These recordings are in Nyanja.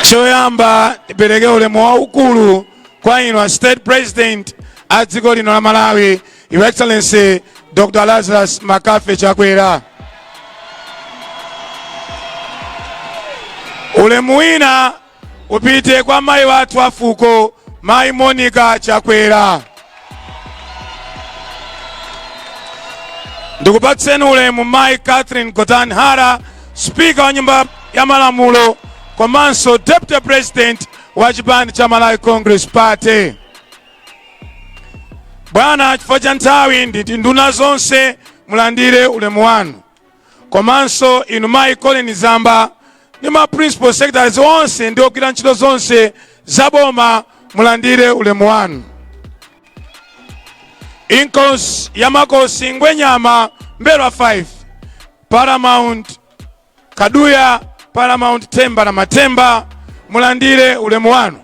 choyamba ndipereke ulemu waukulu kwa inu a state president a dziko lino la malawi your excellency dr lazarus mccarthy chakwera ulemu wina upite kwa mayi wathu a fuko mayi monica chakwera ndikupatseni ulemu mayi catherine gotani hara spika wa nyumba ya malamulo komanso deputy president wa chipani cha malawi congress party bwana chifukwa cha nthawi nditi nduna zonse mulandire ulemu wanu komanso inu mayi colleen zamba ndi ma principal secretaries onse ndi ogwira ntchito zonse za boma mulandire ulemu wanu inkosi ya makosi ngwenyama m'mbelwa 5 paramount kaduya paramount themba la mathemba mulandire ulemu wanu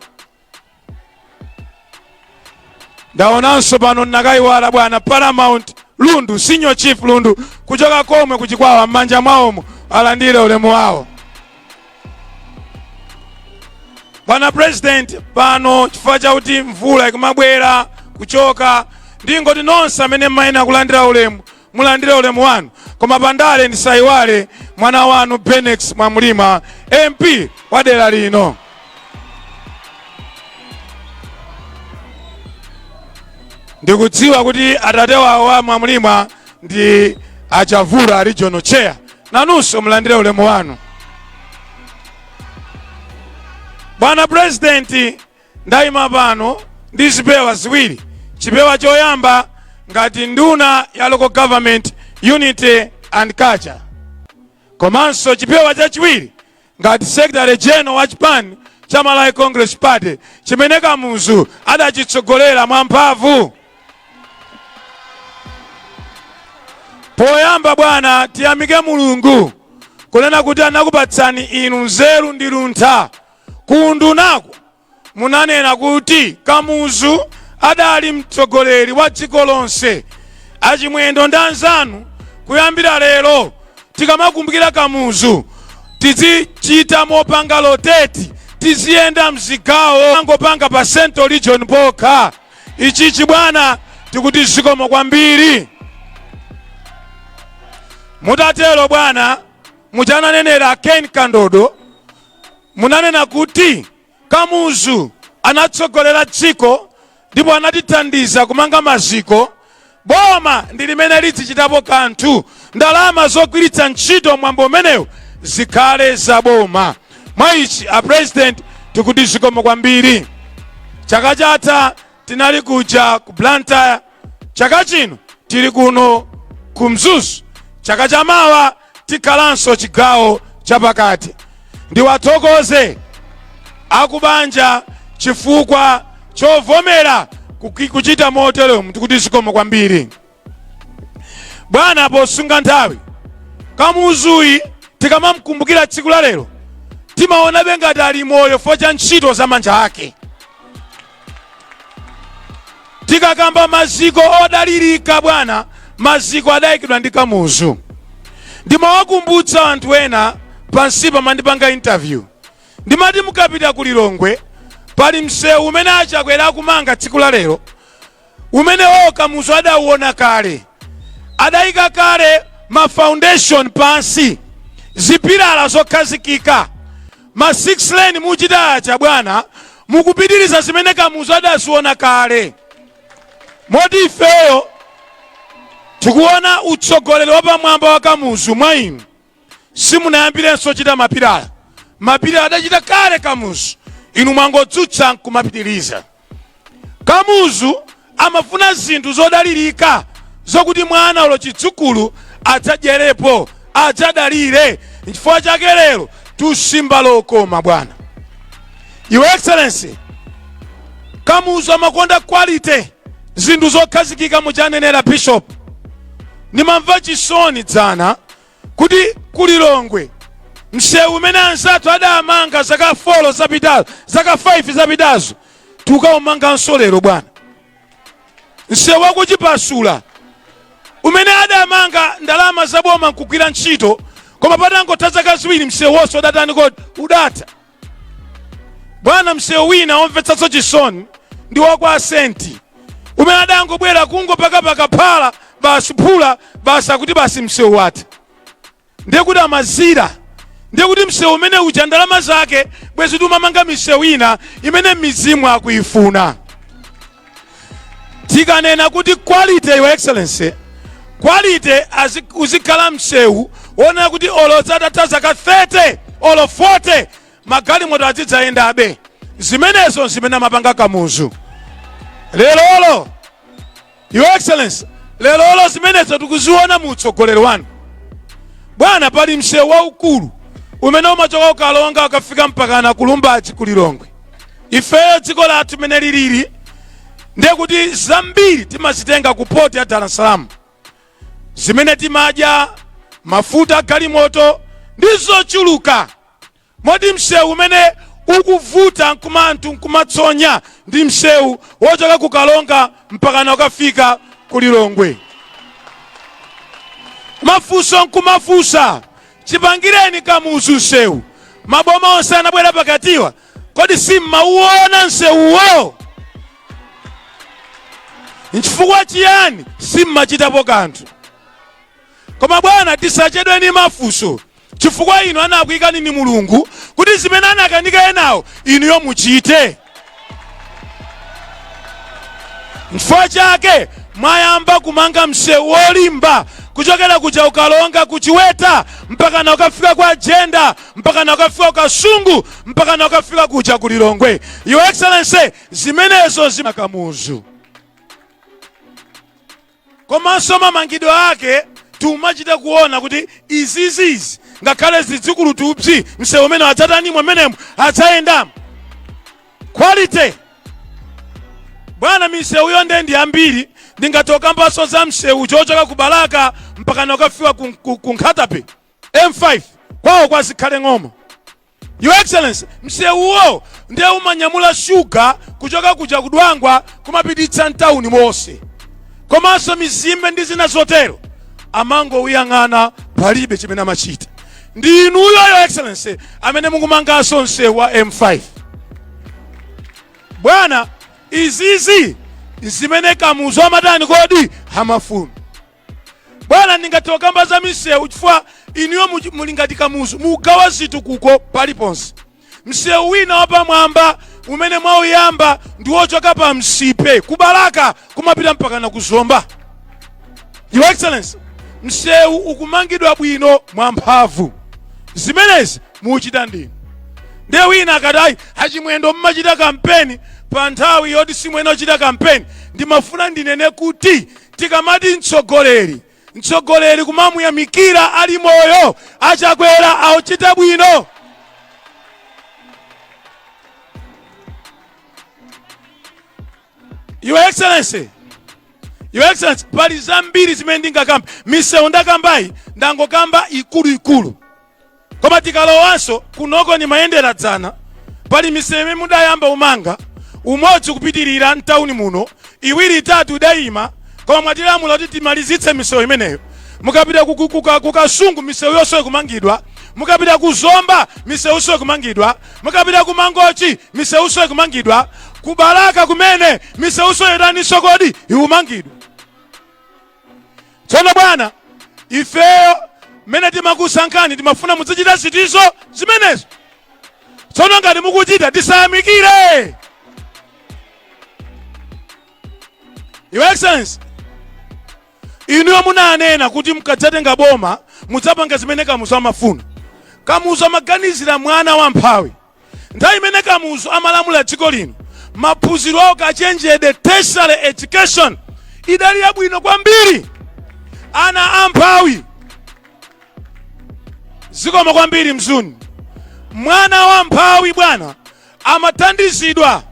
ndaonanso pano nnakayiwala bwana paramount lundu senior chief lundu kuchoka komwe kuchikwawa m'manja mwawomo alandire ulemu wawo bwana president pano chifukwa chakuti mvula ikumabwera kuchoka ndingoti nonse amene mmayenera kulandira ulemu mulandire ulemu wanu koma pandale ndisayiwale mwana wanu bennex mwamlima mp wa dera lino ndikudziwa kuti atate wawo wa mwamlima ndi a chavula regional chair nanunso mulandire ulemu wanu bwana president Ndaima pano ndi zipewa ziwiri. Chipewa choyamba ngati nduna ya local government unity and culture, komanso chipewa chachiwiri ngati secretary general wa chipani cha Malawi Congress Party chimene Kamuzu adachitsogolera mwamphamvu. Poyamba bwana, tiyamike Mulungu kunena kuti anakupatsani inu nzeru ndi luntha Ku undunako munanena kuti Kamuzu adali mtsogoleri wa dziko lonse. A Chimwendo ndi anzanu kuyambira lero tikamakumbukira Kamuzu tizichita mopanga rotate, tiziyenda mzigawo osangopanga pa Central Region pokha. Ichichi bwana tikuti zikomo kwambiri. Mutatero bwana muja ananenera Ken Kandodo munanena kuti Kamuzu anatsogolera dziko ndipo anatithandiza kumanga maziko, boma ndi limene lidzichitapo kanthu, ndalama zogwiritsa ntchito mwambo umenewu zikhale za boma. Mwa ichi a President tikuti zikomo kwambiri. Chaka chatha tinali kuja ku Blantyre, chaka chino tili kuno ku Mzuzu, chaka chamawa tikhalanso chigawo chapakati. Ndiwathokoze akubanja chifukwa chovomera kuki- kuchita moteromu tikuti zikomo kwambiri bwana posunga nthawi Kamuzuyu tikamamkumbukira tsiku la lero timaonabe ngati ali moyo fo cha ntchito za manja ake tikakamba maziko odalirika bwana maziko adayikidwa ndi kamuzu ndimawakumbutsa anthu ena pansipa mandipanga interview ndimati mukapita ku lilongwe pali msewu umene a Chakwera akumanga tsiku la lero umenewo kamuzu adauona kale adaika kale ma foundation pansi zipilala zokhazikika ma 6 lane muchitayi achabwana mukupitiriza zimene kamuzu adaziona kale moti ifeyo tikuona utsogoleri wapamwamba wa kamuzu mwa inu simunayambirenso chita mapilala mapilala adachita kale kamuzu inu mwangodzutsa nkumapitiliza kamuzu amafuna zinthu zodalirika zokuti mwana ulo chidzukulu adzadyerepo adzadalire nchifukwa chake lero tikusimba lokoma bwana your excellency kamuzu amakonda quality zinthu zokhazikika muchanenera bishop ndimamva chisoni dzana kuti ku Lilongwe msewu umene anzathu adamanga zaka 4 zapitazo zaka 5 zapitazo tukaumanganso lero bwana msewu wa ku Chipasula umene adamanga ndalama zaboma nkugwira ntchito koma patangotha zaka ziwiri msewu wonse udatani kodi udatha bwana msewu wina omvetsanso chisoni ndi wakwa Senti umene adangobwera kungopakapaka phala basi phula basi akuti basi msewu watha ndiye kuti amaliza ndiye kuti msewu umene uja ndalama zake bwezi timamanga misewu ina imene mizimu akuyifuna tikanena kuti quality your excellency quality uzikhala msewu wonena kuti olo zitatha zaka 30 olo 40 magalimoto azidzayendabe zimenezo ndi zimene amapanga kamuzu lerolo your excellency lerolo zimenezo tikuziona mu utsogoleri wanu bwana pali msewu waukulu umene umachoka ku Karonga ukafika mpaka na ku Lumbadzi kulilongwe ifeyo dziko lathu mene lilili ndiye kuti zambiri timazitenga ku poti ya dar es salaam zimene timadya mafuta a galimoto ndi zochuluka moti msewu umene ukuvuta nkuti anthu nkumatsonya ndi msewu wochoka ku Karonga mpakana ukafika ku lilongwe mafunso nkumafunsa chipangireni kamuzu msewu maboma onse anabwera pakatiwa kodi sim'mauona msewuwo nchifukwa chiyani simmachitapo kanthu koma bwana tisachedwe ni mafunso chifukwa inu anakuikani ni mulungu kuti zimene anakanika enawo inuyo muchite nchifukwa chake mwayamba kumanga msewu wolimba kuchokera kuja ku Karonga kuchiweta mpakana ukafika kwa Jenda mpakana kafika ku Kasungu mpakana kafika kuja ku lilongwe your excellency zimenezo ndi za Kamuzu komanso mamangidwe ake tikumachita kuona kuti izizizi ngakhale zidzukulu tupsi msewu umene adzatanimo mmenemo adzayendamo quality bwana misewu yo nde ndi yambiri ndingathe kukambanso za msewu wochoka ku balaka mpakana kafika ku Nkhata Bay M5 kwawo kwa zikhale ng'oma Your Excellency, msewuwo ndiye umanyamula shuga kuchoka kuja ku Dwangwa kumapititsa mtawuni monse komanso mizimbe ndi zina zotero amangowuyang'ana palibe chimene amachita ndi inuyo Your Excellency amene mukumanganso msewu wa M5 bwana izizi ndi zimene kamuzu amatani kodi amafuna bwana ndingathe kukamba za misewu chifukwa inuyo muli ngati kamuzu mukugawa zitukuko paliponse msewu wina wapamwamba umene mwauyamba ndi wochoka pa Nsipe kubalaka kumapita mpakana ku Zomba your excellency msewu ukumangidwa bwino mwamphamvu zimenezi mukuchita ndinu ndiye wina akati ayi achimwendo mmachita kampeni pa nthawi yoti simuyenera kuchita kampeni ndimafuna ndinene kuti Tikamati mtsogoleri mtsogoleri kumamuyamikira ali moyo achakwera auchita bwino your excellency your excellency pali zambiri zimene ndingakamba misewu ndakambayi ndangokamba ikuluikulu koma tikalowanso kunoko nimayendera dzana pali misewu imene mudayamba umanga umodzi kupitirira mtawuni muno iwiri itatu idayima koma mwatilamula kuti timalizitse misewu imeneyo mukapita ku- ku- kuka- kukasungu misewunso ikumangidwa mukapita ku zomba misewunso ikumangidwa mukapita ku mangochi misewunso ikumangidwa ku balaka kumene misewunso yataninso kodi ikumangidwa tsono bwana ifeyo mmene timakusankhani timafuna muzichita ziti zo zimenezo tsono ngati mukuchita tisayamikire your excellency inuyo munanena kuti mkadzatenga boma mudzapanga zimene kamuzu amafuna kamuzu amaganizira mwana wa mphawi Nthawi imene Kamuzu amalamula dziko lino, maphunziro a ukachenjede, tertiary education, idali yabwino kwambiri. Ana amphawi zikomo kwambiri mzuni. Mwana wa mphawi bwana amathandizidwa,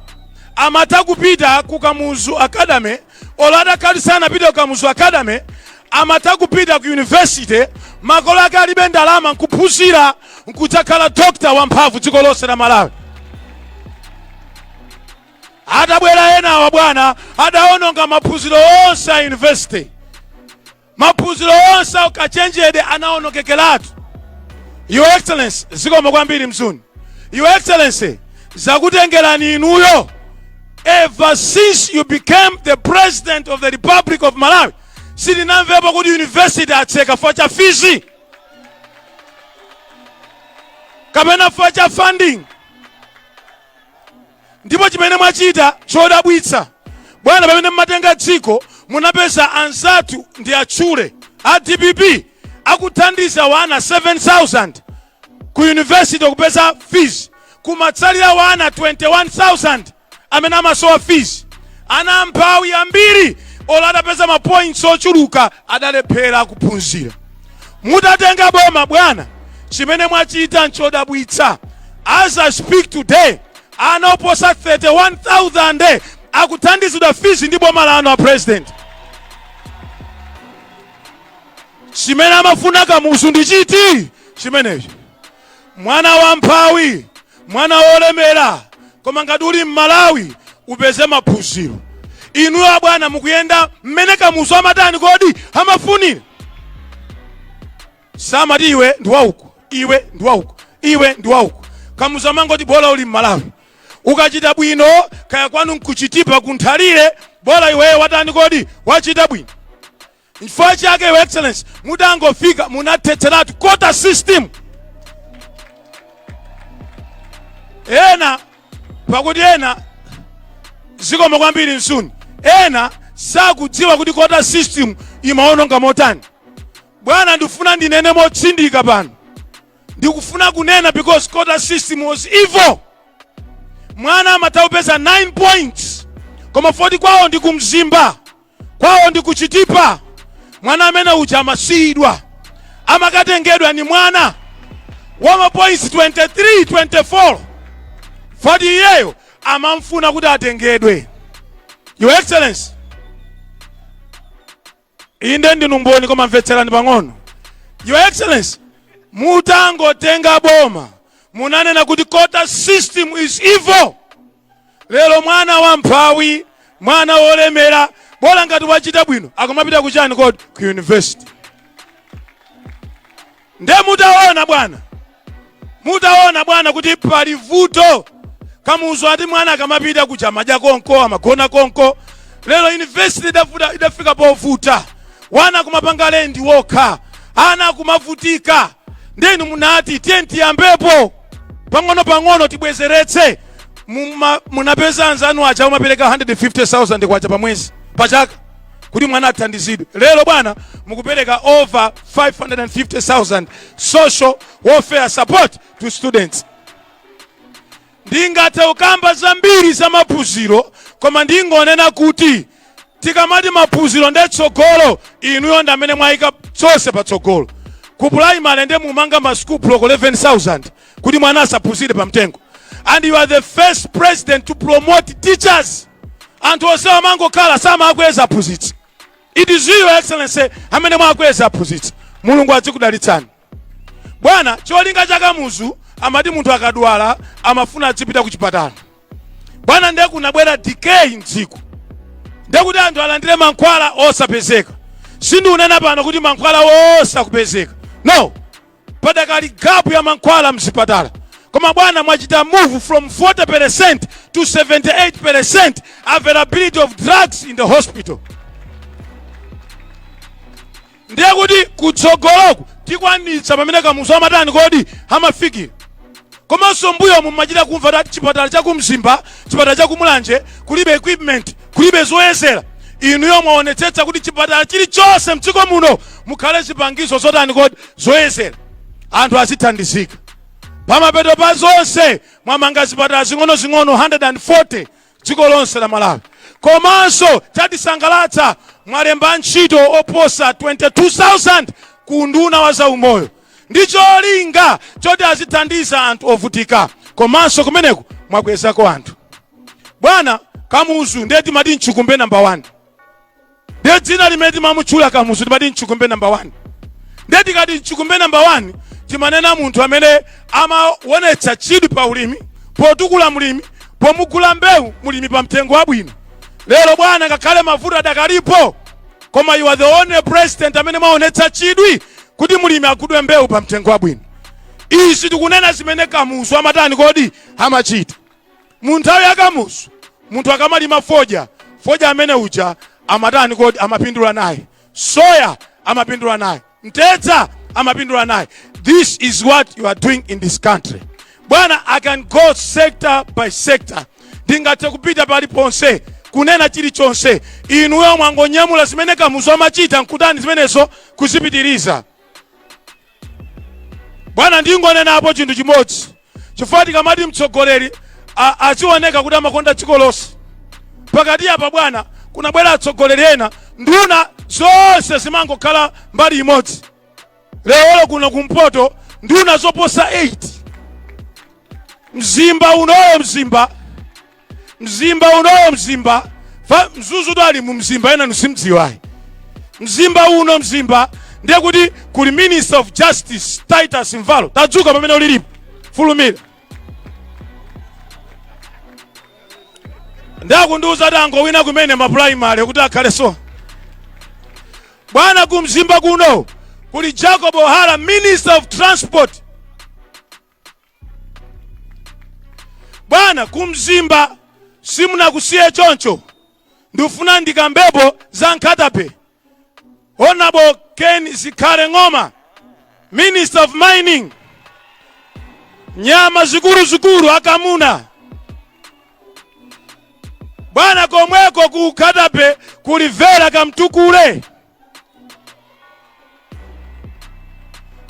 amatha kupita ku Kamuzu Academy olo adakali sanapite ku kamuzu academy amatha kupita ku yunivesite makolo ake alibe ndalama nkuphunzira nkudzakhala dokta wamphamvu dziko lonse la malawi atabwera enawa bwana adaononga maphunziro onse a yunivesite Maphunziro onse a ukachenjede anaonokekeratu. Your Excellency, zikomo kwambiri Mzuni. Your Excellency, zakutengerani inuyo ever since you became the president of the Republic of Malawi sitinamvepo kuti university atseka for cha fizi kapena for cha funding Ndipo chimene mwachita chodabwitsa bwana pamene mmatenga dziko munapeza anzathu ndiwatchule a dpp akuthandiza wana 7000 ku university kupeza fees kumatsalira wana 21000 amene amasowa fees ana amphawi ambiri olo adapeza mapoints ochuluka adalephera kuphunzira mutatenga boma bwana chimene mwachita nchodabwitsa as i speak today ana oposa 31000 akuthandizidwa fizi ndi boma lanu a president chimene amafuna kamuzu ndi chiti chimenecho Mwana wamphawi, mwana wolemera, koma ngati uli m'Malawi upeze maphunziro. Inuyo abwana mukuyenda mmene Kamuzu amatani kodi amafunira, samati iwe ndi wauko, iwe ndi wauko, iwe ndi wauko. Kamuzu amangoti bola uli m'Malawi, ukachita bwino kaya kwanu nku Chitipa ku Nthalire, bola iweyo watani kodi wachita bwino. Nchifukwa chake Your Excellency, mutangofika munathetseratu quota system. Ena pakuti ena zikomo kwambiri nsuni, ena sakudziwa kuti quota system imaononga motani. Bwana, ndifuna ndinene motsindika pano, ndikufuna kunena because quota system was evil. Mwana amatha kupeza 9 points koma poti kwawo ndi ku Mzimba kwawo ndi ku chitipa mwana amene uja amasiyidwa amakatengedwa ni mwana wa mapoints 23 24 poti iyeyo amamfuna kuti atengedwe your excellency inde ndinu mboni koma mvetserani pang'ono your excellency mutangotenga boma munanena kuti quota system is evil Lero mwana wamphawi, mwana wolemera, bola ngati wachita bwino, akumapita kuchani kodi? Ku university. Nde mutaona bwana, mutaona bwana kuti pali vuto kamuzu ati mwana akamapita kuja amadya konko amagona konko lero university idafika povuta wana akumapanga lendi wokha ana akumavutika nde inu munati tiyeni tiyambepo pang'ono pang'ono tibwezeretse munapeza anzanu aja akumapereka 150,000 kwacha pa mwezi pa chaka kuti mwana athandizidwe lero bwana mukupereka over 550,000 social welfare support to students ndingathe kukamba zambiri za maphunziro koma ndingonena kuti tikamati maphunziro nde tsogolo inuyo ndi amene mwayika zonse patsogolo ku primary nde mumanga ma school block 11000 kuti mwana asaphunzire pa mtengo and you are the first president to promote teachers anthu onse amangokhala samakweza aphunzitsi it is you excellency amene mwakweza aphunzitsi mulungu adzikudalitsani bwana cholinga cha kamuzu amati munthu akadwala amafuna adzipita ku chipatala bwana ndiye kunabwera decay mdziko ndiye kuti anthu alandire mankhwala osapezeka sindiunena pano kuti mankhwala onse akupezeka no padakali gapu ya mankhwala mzipatala koma bwana mwachita move from 40% to 78% availability of drugs in the hospital ndiye kuti kutsogoloku tikwanitsa pamene kamuzu amatani kodi amafikira koma m'mbuyomu timachita kumva kuti chipatala cha kumzimba chipatala cha kumulanje kulibe equipment kulibe zoyezera inuyo mwaonetsetsa kuti chipatala chilichonse mdziko muno mukhale zipangizo zotani kodi zoyezera anthu azithandizika pamapeto pa zonse mwamanga zipatala zing'onozing'ono 140 dziko lonse la Malawi. Komanso chatisangalatsa mwalemba antchito oposa 22,000 ku unduna wa zaumoyo ndi cholinga choti azithandiza anthu ovutika komanso kumeneko mwakwezako anthu. Bwana Kamuzu ndiye timati mchikumbe namba 1. ndiye dzina limene timamutchula kamuzu timati mchikumbe namba 1 ndiye tikati mchikumbe namba 1 timanena munthu amene amawonetsa chidwi pa ulimi potukula mlimi pomugula mbewu mlimi pa mtengo wabwino lero bwana ngakhale mavuto adakalipo koma you are the only president amene mwaonetsa chidwi kuti mlimi agulidwe mbewu pa mtengo wabwino izi tikunena zimene kamuzu amatani kodi amachita Mu nthawi ya Kamuzu munthu akamalima fodya, fodya amene uja amatani kodi? Amapindula naye. Soya amapindula naye. Mtedza amapindula naye. This is what you are doing in this country. Bwana, I can go sector by sector. Ndingathe kupita paliponse kunena chilichonse. Inuyo mwangonyamula zimene Kamuzu amachita nkutani zimenezo kuzipitiriza. Bwana, ndingonenapo chinthu chimodzi, chifukwa tikamati mtsogoleri a- azioneka kuti amakonda dziko lonse, pakati apa bwana, kunabwera atsogoleri ena, nduna zonse zimangokhala mbali imodzi. Lero kuno kumpoto nduna zoposa 8 mzimba unowo mzimba mzimba unowo mzimba fa mzuzu to ali mu mzimba ena ndisimdziwayi mzimba uno mzimba ndiye kuti kuli minister of justice titus mvalo tadzuka pamene ulilipo fulumira ndakundiuza kuti angowina kumene mapulaimale kuti akhale so bwana kumzimba kuno kuli jacob hara minister of transport bwana kumzimba simunakusiye choncho ndifuna ndikambepo za nkhatabay honorable ken zikhale ng'oma minister of mining nyama zikuluzikulu akamuna bwana komweko ku nkhatabay kuli vera kamtukule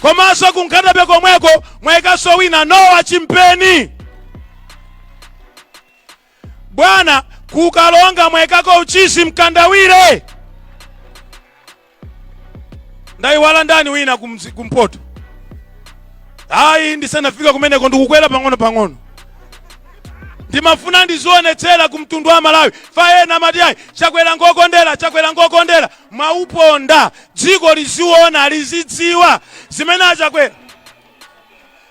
komanso ku nkhata bay komweko mwayikanso wina noah chimpeni bwana kukalonga mwayikako uchizi mkandawire ndayiwala ndani wina kumzi- kumpoto ayi ndisanafika kumeneko ndikukwera pang'ono pang'ono ndimafuna ndizionetsera ku mtundu wa malawi pa ena amati ayi chakwera ngokondera chakwera ngokondera mwauponda dziko liziona lizidziwa zimene achakwera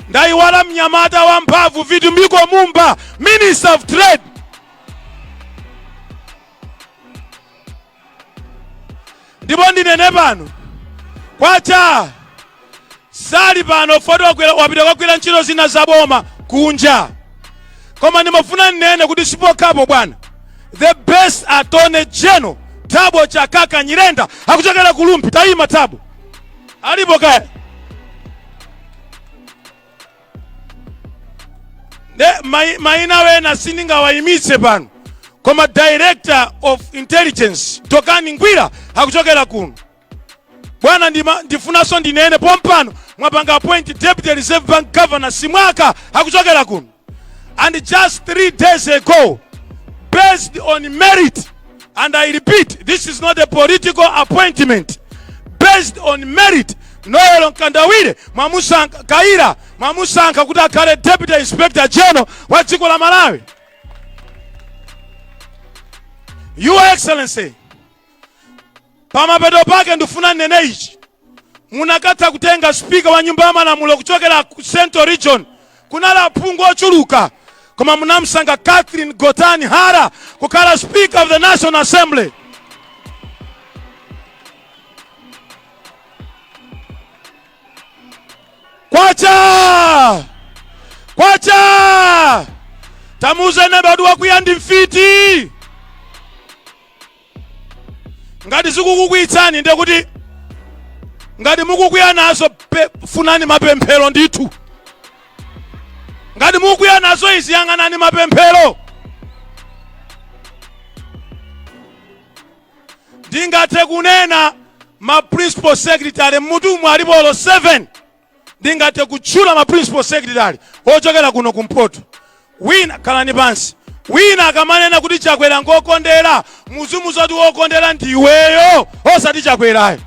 ndayiwala mnyamata wa mphamvu vitumbiko mumba minister of trade ndipo ndinene pano kwacha sali pano poti wagwira- wapita kukagwira ntchito zina za boma kunja koma ndimafuna ndinene kuti sipokhapo bwana the best attorney general thabo chakaka nyirenda akuchokera ku rumphi tayima thabo alipo kaya nde mai- maina ena sindingawayimitse pano koma director of intelligence dokani ngwira akuchokera kuno bwana ndima- ndifunanso ndinene pompano mwapanga appoint deputy reserve bank governor simwaka akuchokera kuno and just three days ago based on merit And I repeat, this is not a political appointment based on merit. Noel Mkandawire mwamusankha Kayira mwamusankha kuti akhale deputy inspector general wa dziko la Malawi. Your Excellency, pamapeto pake ndifuna ninene ichi Munakatha kutenga speaker wa nyumba ya malamulo kuchokera ku central region. Kunali aphungu ochuluka koma munamsankha Catherine Gotani Hara kukhala speaker of the National Assembly. Kwacha! Kwacha! Tamuuze neba ati wakwiya ndi mfiti. ngati zikukukwiyitsani ndiye kuti ngati mukukwiya nazo pe- funani mapemphero ndithu ngati mukukwiya nazo izi yang'anani mapemphero ndingathe kunena ma principal secretary mmudzi mwa alipo 7 ndingathe kutchula ma principal secretary ochokera kuno kumpoto wina khalani pansi wina akamanena kuti chakwera ngokondera muzimuuza kuti wokondera ndiweyo osati chakwerayo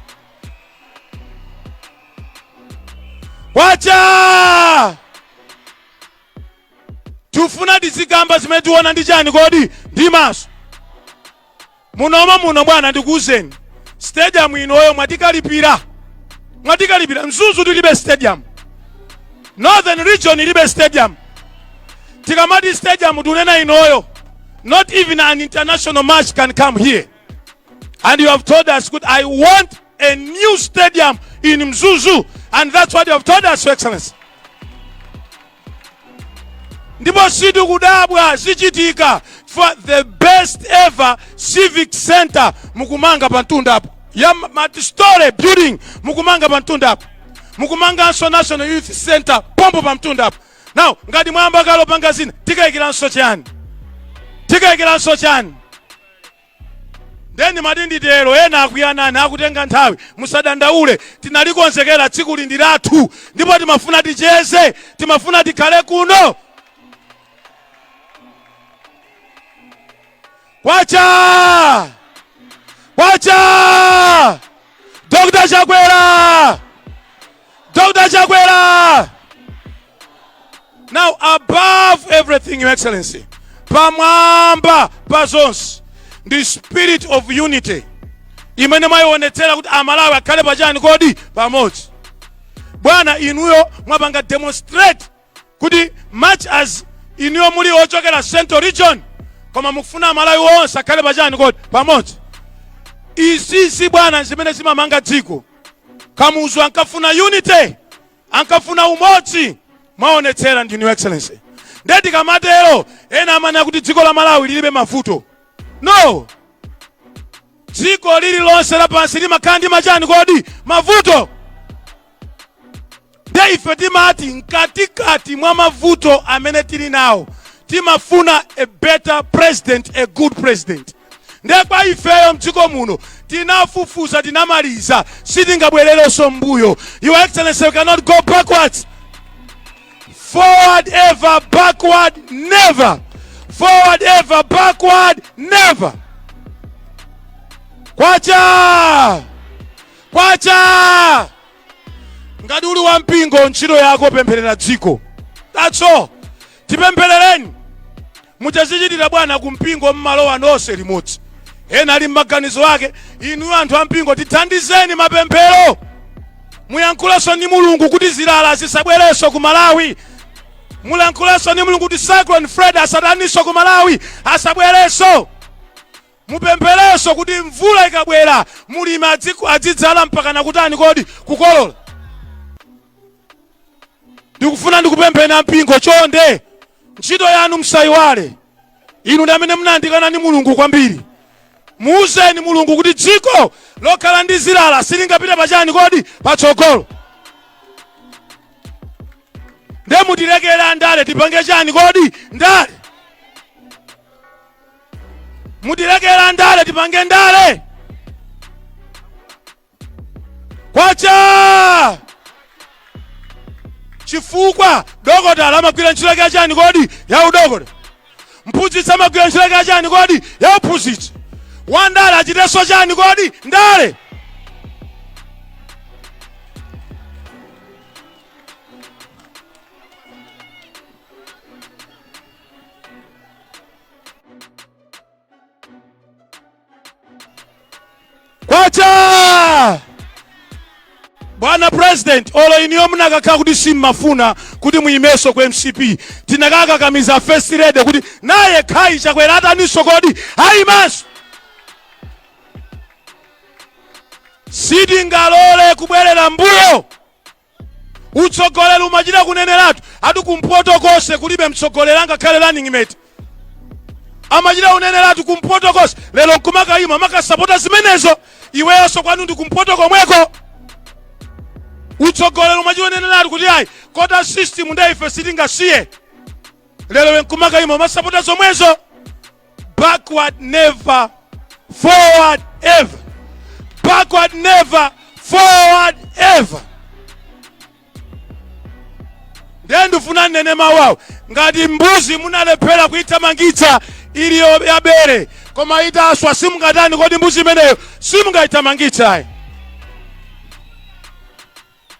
kwacha Tufuna tizikamba zimene tuona ndi chani kodi ndi maso munomo muno bwana ndikuwuzeni stadium inoyo mwatikalipira mwatikalipira mzuzu tilibe stadium northern region ilibe stadium tikamati stadium tunena inoyo not even an international match can come here and you have told us kuti i want a new stadium in mzuzu and that's what you have told us your excellency ndipo sitikudabwa zichitika for the best ever civic center mukumanga pa mtundapo ya multistory building mukumanga pa mtundapo mukumanganso national youth center pompo pa mtundapo now ngati mwayamba kale opanga zina tikayikiranso chani tikayikiranso chani Nde ndimati nditero ena akwiya nane akutenga nthawi musadandaule tinalikonzekera tsikuli ndi lathu ndipo timafuna ticheze timafuna tikhale kuno kwacha kwacha Dr. Chakwera Dr. Chakwera now above everything your excellency pamwamba pa zonse ndi spirit of unity imene mwayionetsera kuti amalawi akhale pachani kodi pamodzi bwana inuyo mwapanga demonstrate kuti much as inuyo muli ochokera central region koma mukufuna amalawi onse akhale pachani kodi pamodzi izizi bwana zimene zimamanga dziko kamuzu ankafuna unity ankafuna umodzi mwaonetsera ndi inu your excellency nde tikamatero ena amanena kuti dziko la malawi lilibe mavuto no dziko lililonse lapansi limakhala ndi machani kodi mavuto nde ife timati mkatikati mwa mavuto amene tili nawo timafuna a better president a good president nde kwa ifeyo mdziko muno tinafufuza tinamaliza sitingabwererenso mbuyo your excellency we cannot go backwards forward ever backward never forward ever backward never kwacha kwacha ngati uli wa mpingo ntchito yako pempherera dziko that's all tipempherereni Mutazichitira bwana ku mpingo mmalowa nonse limodzi. Ena ali mmaganizo ake, inu anthu a mpingo tithandizeni mapemphero. Muyankhulenso ndi Mulungu kuti zilala zisabwerenso ku Malawi. Mulankhulenso ndi Mulungu kuti Cyclone Fred asataninso ku Malawi, asabwerenso. Mupempherenso kuti mvula ikabwera mulimi adziku- adzidzala mpakana kutani kodi kukolola. Ndikufuna ndikupempheni a mpingo chonde. ntchito yanu msaiwale inu ndi amene munayandikana ndi mulungu kwambiri muuzeni mulungu kuti dziko lokhala ndi zilala silingapite pachani kodi patsogolo nde mutilekere andale tipange chani kodi ndale mutilekere andale tipange ndale kwacha chifukwa dokotala amagwira ntchito yake yachani kodi ya udokota mphunzitsi amagwira ntchito yake yachani kodi ya uphunzitsi wandale achitenso chani kodi ndale kwacha bwana president olo inuyo munakakhala kuti simmafuna kuti muyimeso ku mcp tinakakakamiza first lady kuti naye khayi chakwera ataniso kodi ayimanso sitingalole kubwerera mbuyo utsogoleri umachita kuneneratu ati kumpoto konse kulibe mtsogoleri angakhale running mate amachita kuneneratu kumpoto konse lero nkumakayima makasapota zimenezo iweyonso kwanu ndi kumpoto komweko utsogoleri umachita kuneneratu kuti ayi quota system nde ife sitingasiye lero iwe nkumakayima masapota zomwezo backward never forward ever backward never forward ever ndiye ndifuna nnene mawu awo ngati mbuzi munalephera kuithamangitsa ili yo- ya bere koma itaswa simungatani kodi mbuzi imeneyo simungayithamangitsayi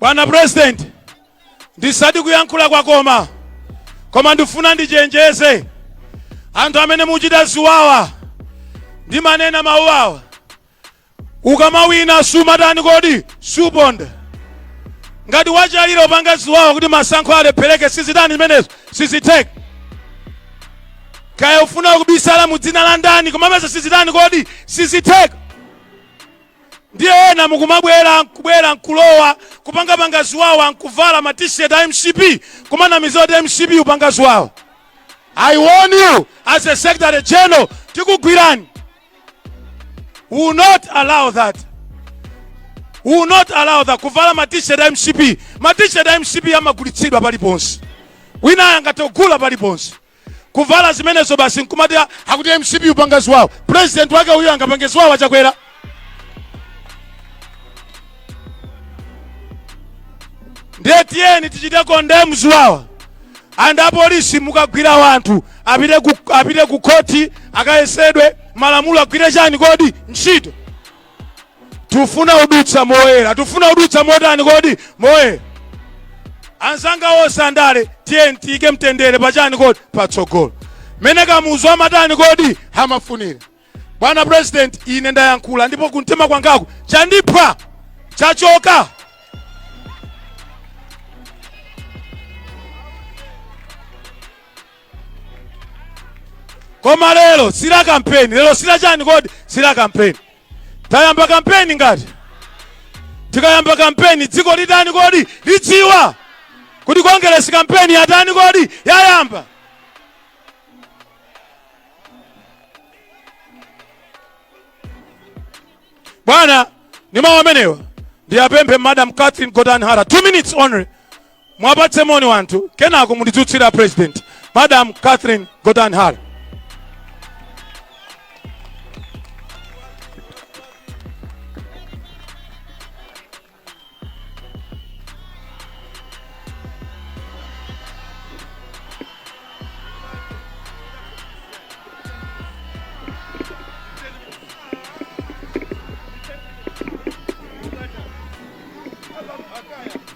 Bwana President, ndisati kuyankhula kwakoma koma ndifuna ndichenjeze anthu amene muchita ziwawa ndimanena mawu awa ukamawina sumatani kodi suponda ngati wachalira kupanga ziwawa kuti masankho alephereke sizitani zimenezo sizitheka kaya ufuna kubisala mu dzina la ndani koma mesa sizitani kodi sizitheka ndiye ena mukumabwera nkubwera nkulowa kupangapanga ziwawa nkuvala ma t-shirt a mcp kumanamiza kuti mcp upanga ziwawa i warn you as a secretary general tikugwirani We will not allow that We will not allow that kuvala ma t-shirt a mcp ma t-shirt a mcp amagulitsidwa paliponse wina angathe kugula paliponse kuvala zimenezo basi nkumati "Ah, akuti mcp upanga ziwawa president wake uyo angapange ziwawa chakwera ndiye tiyeni tichite condemn ziwawa and apolisi mukagwira wanthu apite ku khoti akayesedwe malamulo agwire chani kodi ntchito tufuna udutsa moyera tufuna udutsa motani kodi moyera anzanga wonse andale tiyeni tiyike mtendere pachani kodi patsogolo mene kamuzu amatani kodi amafunira bwana president ine ndayankhula ndipo kumtima kwangaku chandipha chachoka koma lero sila kampeni lero sila chani kodi sila kampeni tayamba kampeni ngati tikayamba kampeni dziko litani kodi lidziwa kuti kongeresi kampeni yatani kodi yayamba bwana ni mawu amenewa ndiyapemphe madam catherine gotani hara two minutes only Muwapatse moni wanthu kenako mundidzutsire a president. Madam Catherine Gotani Hara.